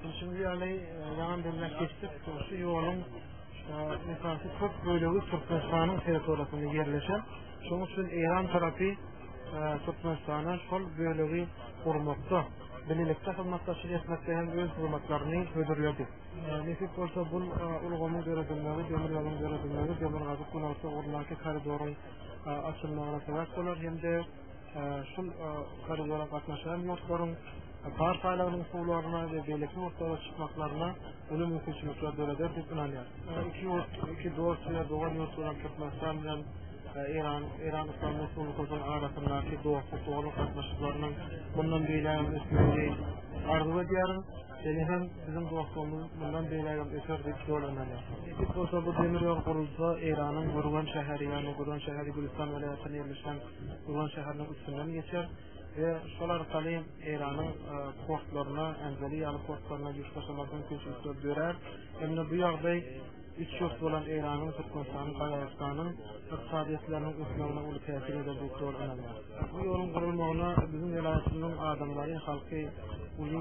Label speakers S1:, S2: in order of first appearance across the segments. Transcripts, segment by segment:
S1: Düşündüğü ýaly ýaňy belläp geçdik, şu ýoluň esasy köp bölegi Türkmenistanyň territoriýasynda ýerleşen. Şonuň üçin Eýran tarapy Türkmenistana şol bölegi gurmakda, bilelikde hyzmatdaşlyk etmekde hem öz hyzmatlaryny hödürledi. Nesip bolsa bu ulgamyň döredilmegi, demir ýoluň döredilmegi, demirgazyk günorta ugrundaky koridoryň açylmagyna sebäp bolar hem-de şul koridora gatnaşan ýurtlaryň par saýlagynyň usullaryna we beýleki ýurtlara çykmaklaryna uly mümkinçilikler döreder diýip ynanýar. Iki ýurt, iki dost we dogan ýurt bolan Türkmenistan bilen Eýran, Eýran Yslam Respublikasynyň arasyndaky dostluk doganlyk gatnaşyklarynyň mundan beýläk hem ösmegini arzuw edýärin. Seni hem bizim dostumuz bundan beýlägem öter diýip ýol önerýär. Nesip bolsa bu demir ýol gurulsa Eýranyň Gürgen şäheri ýa-ni Gürgen şäheri Gülistan welaýatynda ýerleşen Gürgen şäheriniň üstünden geçer we şol arkaly Eýranyň e, portlaryna, Anzali ýaly portlaryna ýük daşamak mümkinçilikleri dörer. Hem-de bu ýagdaý Üç ýurt bolan Eýranyň, Türkmenistanyň, Gazagystanyň ykdysadyýetleriniň ösmegine uly täsir eder diýip doly ynanýar. Bu ýoluň gurulmagyna biziň welaýatymyzyň adamlary, halky uly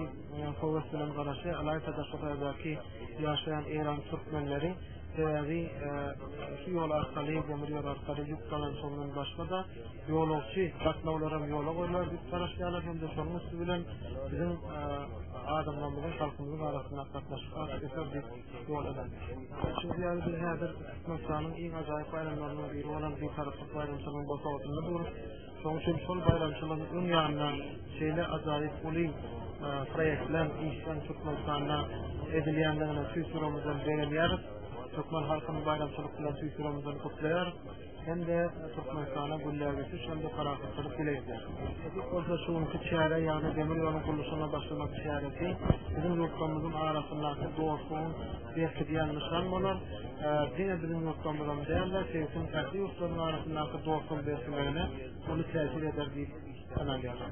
S1: höwes bilen garaşýar. Ylaýta Daşoguzdaky ýaşaýan eýran türkmenleri sebäbi şu ýol arkaly, demir ýol arkaly ýük dolanyşygyndan başga-da ýolagçy gatnawlaram ýola goýlar diýip garaşýarlar hem-de şonuň üsti bilen biziň adamlarymyzyň halkymyzyň arasynda gatnaşyk has öser diýip ýol eden. Şu ýaly bir häzir Türkmenistanyň iň ajaýyp baýramlarynyň biri bolan bir taraplyk baýramçylygyň bosagatynda durup, şoň üçin şol baýramçylygyň öň ýanynda şeýle ajaýyp uly proýektler işlän Türkmenistanda edilýändigine tüýs ýüregimizden begenýäris. Türkmen halkyny baýramçylyk bilen tüýs ýüregimizden gutlaýarys. hem-de Türkmenistana gülläp geçiş hem-de parahatçylyk dileýärler. Bu bolsa şu günki çäre, ýagny demir ýoluň gurluşygyna başlamak çäresi biziň ýurtlarymyzyň arasyndaky dostlugyň berkidýän nyşan bolar. Diňe biziň ýurtlarymyza däl-de, sebitiň ähli ýurtlarynyň arasyndaky dostlugyň berkimegine uly täsir eder diýip ynanýarys.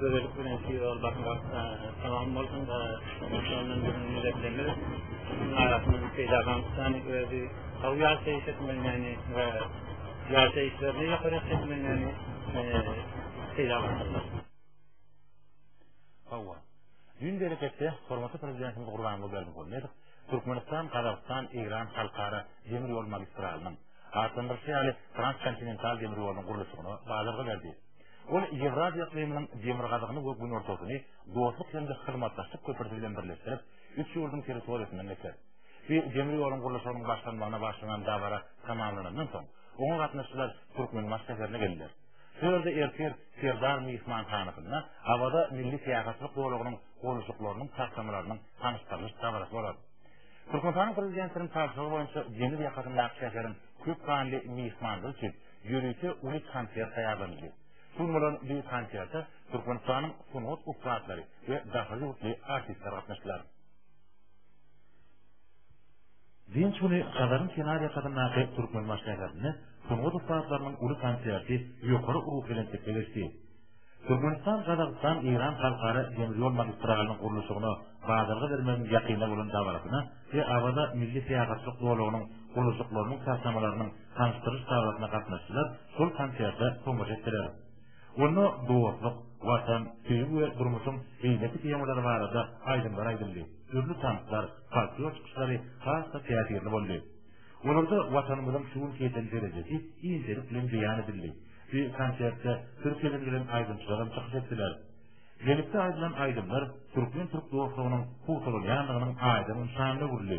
S2: Gözellik bilen şior bakmak tamam bolsun da şondan biziň milletlerimiz arasynda peýda bolmuşdan özi gawy ýaşaýyş etmeli ýagny we ýaşaýyşlaryny ýokary etmeli ýagny peýda
S3: bolsunlar. Hawa. Düýn bereketde hormatly prezidentimiz Gurbanguly Berdimuhamedow Türkmenistan, Gazagystan, Eýran halkara demir ýol magistralynyň, hatdan bir şeýle transkontinental demir ýolunyň gurluşygyna badarga berdi. Ol Ýewraziýa yklymynyň demirgazygyny we günortasyny dostluk hem-de hyzmatdaşlyk köprüsi bilen birleşdirip, üç ýurduň territoriýasyndan geçer. Bu demir ýoluň gurluşygynyň başlanmagyna bagşlanan dabara tamamlanandan soň, oňa gatnaşyjylar Türkmenbaşy şäherine geldiler. Şu ýerde ertir Serdar myhmanhanasynda Awaza milli syýahatçylyk zolagynyň gurluşyklarynyň taslamalarynyň tanyşdyrylyş dabarasy bolar. Türkmenistanyň Prezidentiniň tabşyrygy boýunça deňiz ýakasyndaky şäheriň köp sanly myhmanlar üçin ýörite uly konsert taýýarlanyldy. Şu gün bolan bu konserte Türkmenistanyň sungat ussatlary we daşary ýurtly artistler gatnaşdylar. Dynç güni Hazaryň kenarýakasyndaky Türkmenbaş şäherinde sungat ussatlarynyň uly konserti ýokary ruhubelentlikde geçdi. Türkmenistan, Gazagystan, Eýran halkara demir ýol magistralynyň gurluşygyna badalga bermegiň ýakynda bolan dabarasyna we Awaza milli syýahatçylyk zolagynyň gurluşyklarynyň taslamalarynyň tanyşdyryş dabasyna gatnaşdylar, şol konserte tomaşa etdiler. Onda dostluk, Watan, söýgi we durmuşyň beýleki temalary barada aýdymlar aýdyldy, dürli tanslar, folklor çykyşlary has-da täsirli boldy. Olarda Watanymyzyň şu günki ýeten derejesi inçelik bilen beýan edildi. Şu konsertde Türkiýeden gelen aýdymçylar hem çykyş etdiler. Birlikde aýdylan aýdymlar türkmen-türk dostlugynyň pugtalanýandygynyň aýdyň nyşanyna öwrüldi.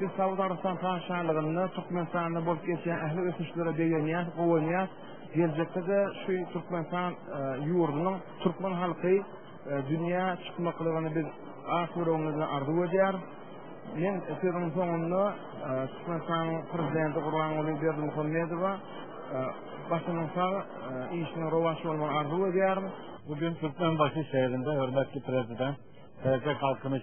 S4: Biz Saud
S1: Arabystan Patyşalygynda Türkmenistanda bolup geçýän ähli ösüşlere begenýäs, guwanýas. Geljekde-de şu Türkmenistan e, ýurdunyň türkmen halky e, dünýä çykmaklygyny biz ak ýüregimizden arzuw edýäris. Men sözüň soňunda e, Türkmenistanyň prezidenti Gurbanguly Berdimuhamedowa başynyň sag, işiniň rowaç bolmagyny arzuw edýärin. Bugün Türkmenbaşy
S3: şehrinde hürmetli prezident Tercih Kalkınış